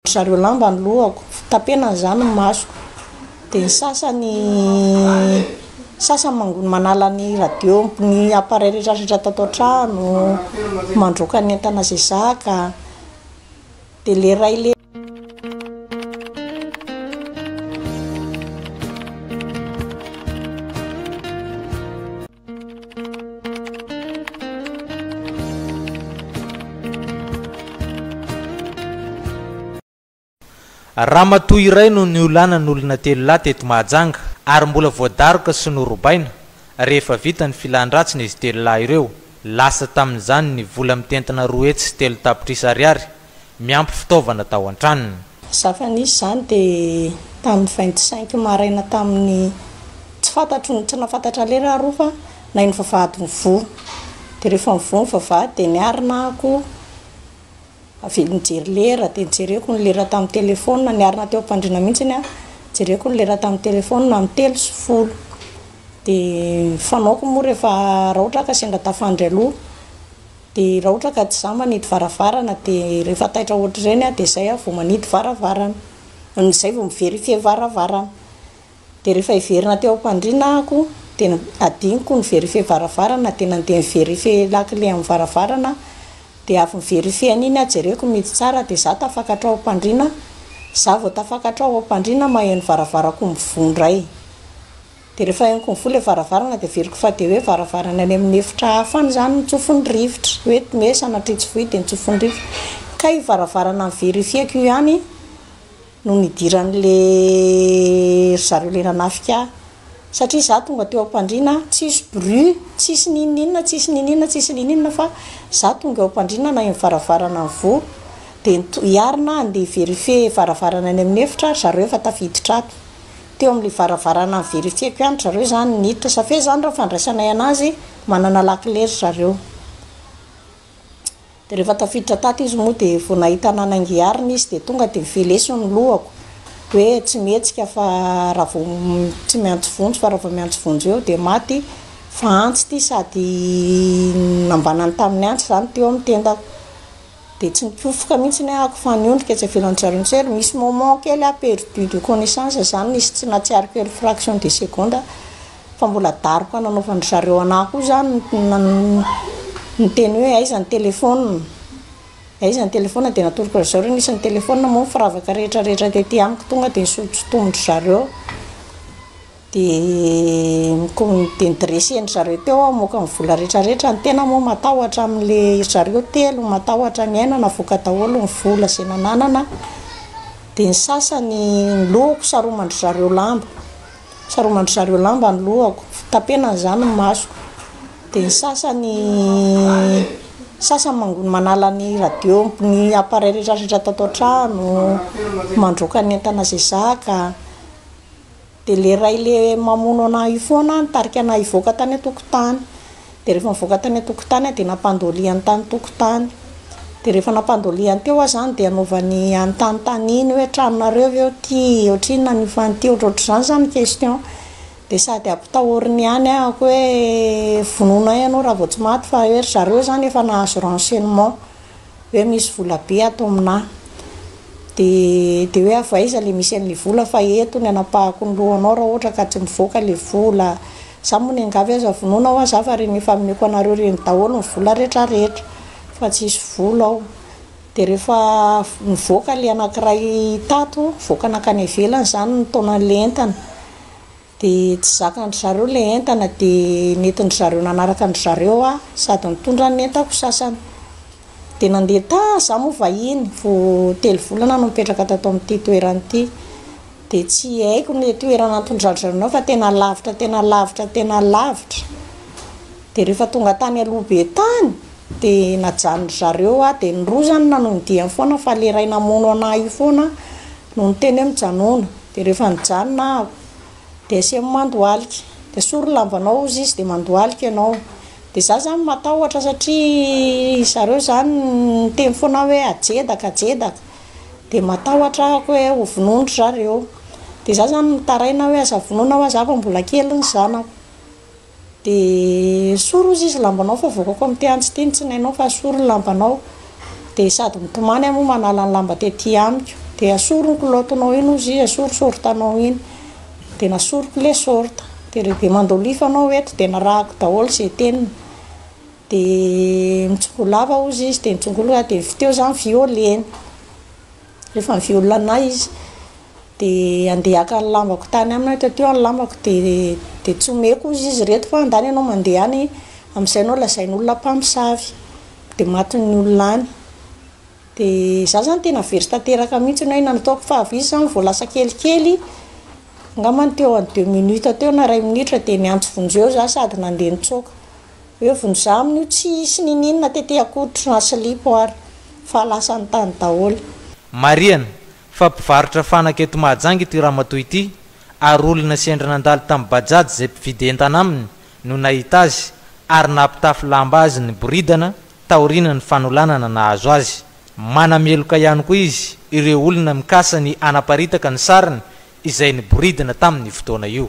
Ry zareo lamba ny lohako, tapena izany ny masoko, dia ny sasany sasany mangony manala ny radio, ny appareil rehetra rehetra tato an-trano, mandroaka ny entana izay zaka, dia ilay iray le. Ramatoa iray no niolanan'olona telo lahy teto Mahajanga ary mbola voadaroka sy norobaina rehefa vita ny filan-dratsiny izy telo lahy ireo. Lasa tamin'izany ny vola mitentina roa hetsy sy telo tapitrisa ariary miampy fitaovana tao an-tranony. Mazava nisy izany dia tamin'ny vingt cinq maraina tamin'ny, tsy fantatro ny, tsy nahafantatra lery aho fa nahay ny vavahady mivoha. Dia rehefa mivoha ny vavahady dia niarina ako avy eo nijery lera dia nijereko ny lera tamin'ny telephone, niarina teo am-pandriana mihitsiny aho, nijereko ny lera tamin'ny telephone amin'ny telo sy folo. Dia ny fanaoko moa rehefa raha ohatra ka sendra tafandry aloha. Dia raotra ka tsy za manidy varavarana dia rehefa taitra ohatr'ireny aho dia zay aho vao manidy varavarana. Zay vao mi-verifier varavarana. Dia rehefa hiverina teo am-pandriana ahako dia adinoko ny verifier varavarana dia nandeha ni-verifier lakile amin'ny varavarana aho. Dia avy ni-verifier an'iny aho jereko mety tsara dia za tafakatra ao am-pandriana. Za vao tafakatra ao am-pandriana maheno varavaran-ko mivoha indray. Dia rehefa henoko mivoha ilay varavarana dia averiko fa dia hoe varavarana any amin'ny efitra hafa any izany ny tsofin'ny rivotra. Hoe me sanatria tsy voy dia ny tsofin'ny rivotra. Kay io varavarana niverifieko io ihany no nidiran'ilay ry zareo ilay nanafika ahy. Satria izaho tonga teo am-pandriana, tsisy bruit, tsisy n'inon'inona, tsisy n'inon'inona, tsisy n'inon'inona fa izaho tonga eo am-pandriana naheno ny varavarana nivoha. Dia ny to- i Arina handeha hi-verifier varavarana any amin'ny efitra ry zareo efa tafiditra ato. teo amin'ilay varavarana ni-verifier-ko ihany ry zareo izany niditra sa f'e zany raha fandraisanay anazy manana lakile ry zareo dia rehefa tafiditra tato izy moa dia vao nahita ananangy arina izy dia tonga dia velesiny ny lohako hoe tsy mihetsika fa raha vao tsy miantso vonjy fa raha vao miantso vonjy eo dia maty fa antsy ity sady nambanany tamin'ny antsy izany teo amin'ny tendako Dia tsy nipofoka mihitsy ny ahako fa niondrika etsy ivelan'ny jarintsery. Misy moment kely aho perdu de connaissance zany, nisy tsy nahatsiaro firy fraction de seconde aho fa mbola daroka nanaovan'dry zareo anah koa zany ny teny hoe aiza ny téléphone? Aiza ny téléphone? Dia natoroko an-dry zareo nisy ny téléphone moa ny firavaka rehetra rehetra tety amiko tonga dia nisolo-tsotomon-dry zareo. Dia nidreseny zareo teo aho hamoaka ny vola rehetra rehetra, ny tena moa matahotra amin'ilay ry zareo telo matahotra ny aina navoaka daholo ny vola izay nananana, dia ny sasany ny lohako saroman-dry zareo lamba, saroman-dry zareo lamba ny lohako, tapenana izany ny masoko, dia ny sasany sasany mangony manala ny radio ny appareil rehetra rehetra tato an-trano, mandroaka ny entana izay zaka. Dia ilay iray ilay mamono anà io foana nitarika anà hivoaka tany an-tokotany. Dia rehefa nivoaka tany an-tokotany aho dia nampandolihany tany tokotany. Dia rehefa nampandolihany teo aho izany dia anaovany anontanintaniany hoe tranonareo ve eo ity, ohatrinona an'io fano ity, ohatrohatr'izany izany ny question. Dia sady ampitahoriny ihany aho koa hoe vonoina ianao raha vao tsy maty fa hoe ry zareo izany efa nahazo renseignement. hoe misy vola be ato aminà dia dia hoe avy aiza ilay misy an'ilay vola fa eto ny hanapahako ny lohanao raha ohatra ka tsy mivoaka ilay vola za moa ny angavy aza vonoina hoa za fa reny efa ameko anareo reny daholo ny vola rehetra rehetra fa tsy hisy vola ao dia rehefa nivoaka ilay anankiray tato nivoaka nankany ivelany izany ny taonan'ilay entana Dia tsy zakan-dry zareo ilay entana dia nentin-dry zareo nanaraka an-dry zareo aho sady nitondra ny entako sasany. Dia nandeha tany izaho moa vahiny, vao telo volana no nipetraka tato amin'ity toerana ity. Dia tsy haiko ilay toerana nitondran-dry zareo anao fa tena lavitra, tena lavitra, tena lavitra. Dia rehefa tonga tany Alobe tany dia najanon'dry zareo aho dia ny roa izany nanodiany foana fa ilay iray namono an'ahy io foana no niteny hoe mijanona, dia rehefa nijanona aho dia asemo mandohalika, dia esory ny lambanao hozy izy dia mandohalika ianao, dia izaho izany matahotra satria ry zareo izany niteny foana aho hoe ajedaka ajedaka, dia matahotra aho hoe ho vonoin-dry zareo, dia izaho izany mitaraina hoe aza vonoina ho'aho aza fa mbola kely ny zanako. Dia esory ozy izy lambanao fa voakako amin ity antsy ity ny tsinainao fa esory ny lambanao dia sady mitomany aho moa manala ny lamba tety amiko dia esory ny kilaotinao iny ozy izy esory sortanao iny dia nasoriko ilay sorta dia rehefa mandolify anao eto dia narahako daholo izay teniny dia mitsokolava ozy izy dia nitsongolona dia avy teo za ny violeny rehefa ny violena izy Dia andeha haka ny lambako tany aminy aho taty eo ny lambako dia dia tsy omeko ozy izy ireto fa andany ianao mandeha any amin'izay ianao lazainy olona mpamosavy dia matin'ny olona any dia za zany tena very tanteraka mihintsy ny hoe inona no ataoko fa avy izy zany vao lasa kelikely angamba ny teo amin'ny deux minutes teo na iray minitra dia niantso vonjeo eo za sady nandeha nitsoaka hoe vonjy za amin'io tsy hisy niniana tety akory na silipo ary fa lasany tany daholo. Marihana, Fa mpivarotra fanaka eto Mahajanga ity ramatoa ity ary olona sendra nandalo tamin'ny Bajaj izay mpividy entana aminy no nahita azy ary nampitafy lamba azy niboridana taoriana ny fanolanana nahazo azy. Manameloka ihany koa izy ireo olona mikasa ny hanaparitaka ny sariny izay niboridina tamin'io fotoana io.